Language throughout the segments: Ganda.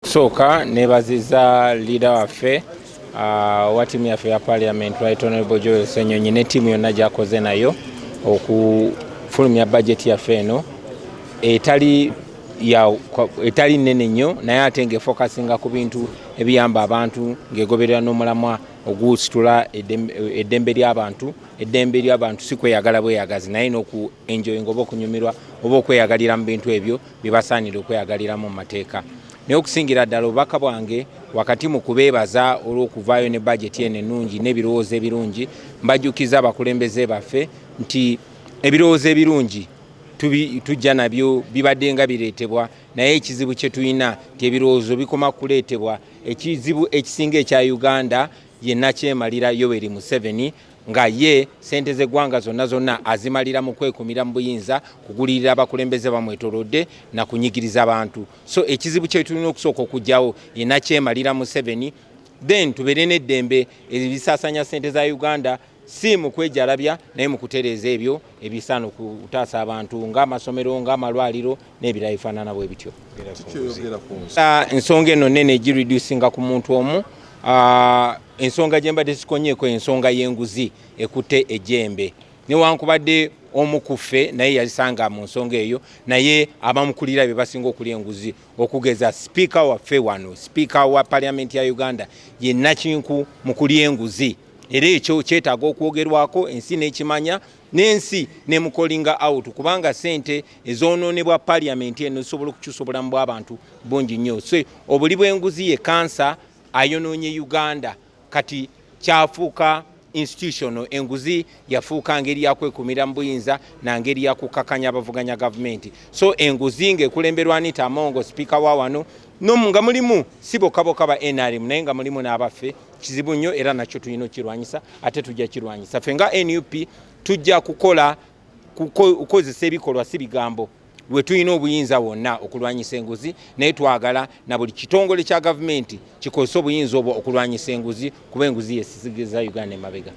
Kusooka nebaziza leader waffe uh, owa tiimu yaffe ya parliament right honorable Joel Senyonyi ne tiimu yonna gyakoze nayo okufulumya bajeti yaffe eno etali ya etali nene nnyo naye ate nga efokasinga ku bintu ebiyamba abantu ng'egoberera n'omulamwa ogusitula eddembe ly'abantu eddembe ly'abantu si kweyagala bweyagazi naye n'oku enjoyinga oba okunyumirwa oba okweyagalira mu bintu ebyo bye basaanira okweyagaliramu mu mateeka naye okusingira ddala obubaka bwange wakati mu kubeebaza olw'okuvaayo ne bajeti eno ennungi n'ebirowoozo ebirungi mbajjukiza abakulembeze baffe nti ebirowoozo ebirungi tujja nabyo bibadde nga bireetebwa naye ekizibu kye tulina nti ebirowoozo bikoma kuleetebwa ekizibu ekisinga ekya uganda yenna kyemalira yoweri museveni nga ye sente z'eggwanga zonna zonna azimalira mu kwekumira mu buyinza kugulirira abakulembeze bamwetolodde na kunyigiriza abantu so ekizibu kyetulina okusooka okugyawo yenakyemalira museveni then tubeere n'eddembe ebisasanya sente za uganda si mu kwejalabya naye mu kutereeza ebyo ebisaana okutaasa abantu ng'amasomero ng'amalwaliro n'ebirala ebifaanana bwe bityo ah, ensonga eno nene egireducinga ku muntu omu ah, ensonga gye mbadde sikonyeeko ensonga y'enguzi ekutte ejjembe newankubadde omu ku ffe naye yalisanga mu nsonga eyo naye abamukulira be basinga okulya enguzi okugeza sipiika waffe wano sipiika wa paliamenti ya uganda ye nakinku mu kulya enguzi era ekyo kyetaaga okwogerwako ensi n'ekimanya n'ensi ne mukolinga out kubanga sente ezonoonebwa paliamenti eno zisobola okukyusa obulamu bw'abantu bungi nnyo so obuli bw'enguzi ye kansa ayonoonye uganda kati kyafuuka institutional enguzi yafuuka ngeri yakwekumira mu buyinza na ngeri yakukakanya abavuganya gavumenti so enguzi ng'ekulemberwa anita amongo sipiika wa wano no nga mulimu si bokka bokka ba nrm naye nga mulimu n'abaffe kizibu nnyo era nakyo tulina okukirwanyisa ate tujja kirwanyisa ffe nga nup tujja kukola kukozesa ebikolwa si bigambo lwe tulina obuyinza wonna okulwanyisa enguzi naye twagala na buli kitongole kya gavumenti kikozesa obuyinza obwo okulwanyisa enguzi kuba enguzi yesizigiza uganda emabega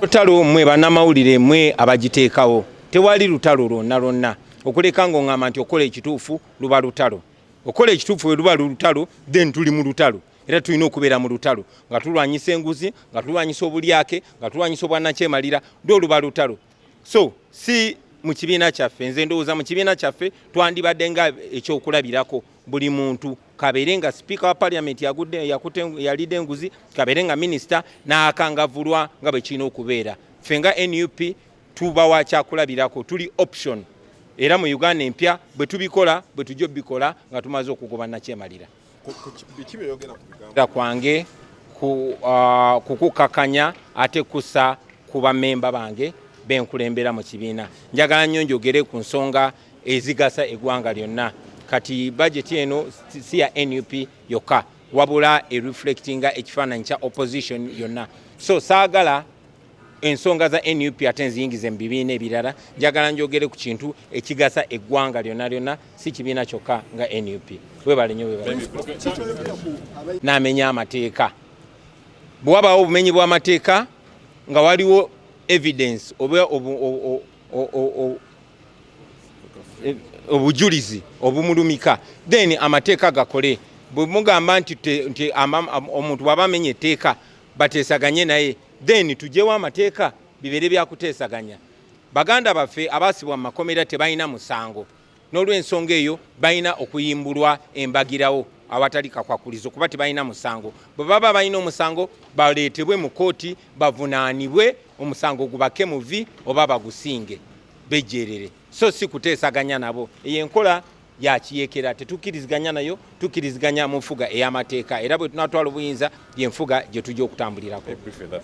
lutalo mwe banamawulire mwe abagiteekawo tewali lutalo lwonna lwonna okuleka ngaoŋamba nti okukola ekituufu luba lutalo okola ekituufu bwe luba lulutalo then tuli mu lutalo era tulina okubeera mu lutalo nga tulwanyisa enguzi nga tulwanyisa obulyake nga tulwanyisa obwanakyemalira lwo oluba lutalo so si mu kibiina kyaffe nze ndowooza mu kibiina kyaffe twandibadde nga ekyokulabirako buli muntu kabeere nga sipiika wa paliamenti yalidde enguzi kabeere nga minisita n'akangavulwa nga bwe kirina okubeera ffe nga nup tuba wa kyakulabirako tuli option era mu uganda empya bwe tubikola bwe tujja obikola nga tumaze okugoba nakyemalira kwange uh, kukukakanya ate kusa ku bamemba bange benkulembera mu kibiina njagala nnyo njogere ku nsonga ezigasa eggwanga lyonna kati bajeti eno si ya nup yokka wabula ereflectinga ekifaananyi kya opposition yonna so saagala ensonga za nup ate nziyingize mu bibiina ebirala njagala njogere ku kintu ekigasa eggwanga lyonna lyonna si kibiina kyokka nga nup webale nyo namenya amateeka bwe wabaawo obumenyi bw'amateeka nga waliwo evidence oba e, obujulizi obumulumika then amateeka gakole bwe mugamba nti omuntu bwaba amenya etteeka bateesaganye naye then tujewo amateeka bibeere byakuteesaganya baganda baffe abaasibwa mu makomera tebalina musango n'olwensonga eyo balina okuyimbulwa embagirawo awatali kakwakulizo kuba tebalina musango bwe baba balina omusango baleetebwe mu kooti bavunaanibwe omusango gubake muvi oba bagusinge bejjeerere so si kuteesaganya nabo eyo enkola yakiyekera tetukkiriziganya nayo tukkiriziganya mu nfuga ey'amateeka era bwe tunatwala obuyinza yenfuga gye tujja okutambulirako